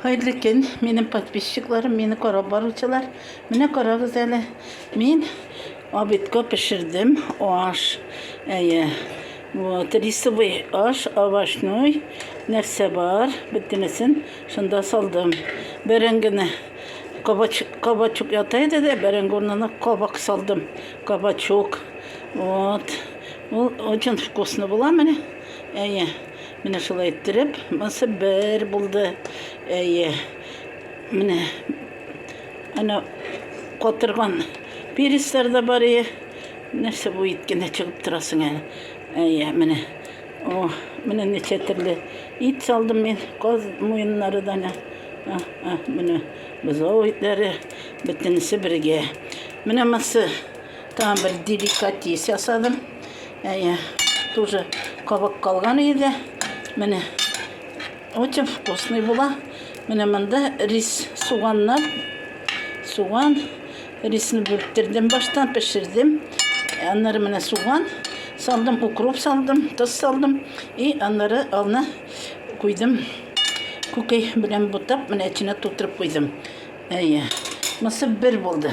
Хәерле көн, минем подписчикларым, мине карап баручылар. Менә карагыз әле. Мин обедка пешердем аш. Әйе. Вот, рисовый аш, овощной, нәрсә бар, бөтенесен шунда салдым. Бәрәңгене кабачук, кабачук ята иде дә, бәрәңге урынына кабак салдым. Кабачук. Вот. Ул очень вкусно була менә. Әйе. Менә шулай иттереп, монысы бер булды. Әйе. Менә ана катырган перецлар да бар ие. Нәрсә бу ит кенә чыгып торасың әле. Әйе, менә. О, менә ничә төрле ит салдым мин. Каз муеннары да менә. А, а, менә бозау итләре бөтенесе бергә. Менә монысы Тагын бер деликатес ясадым. Әйе, тоже кабык калган иде. Менә очень вкусный була. Менә монда рис, суганнар. Суган, рисны бүрттердем баштан, пешердем. Аннары менә суган салдым, укроп салдым, тоз салдым. И аннары аны куйдым. Күкәй белән бутап, менә эченә тутырып куйдым. Әйе. Мысы бер булды.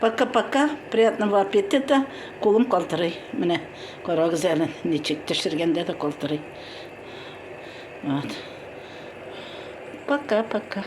Пока пока, приятного аппетита, кулым калтырый, менә карагыз әле ничек төшергәндә дә калтырый. Вот. Пока пока.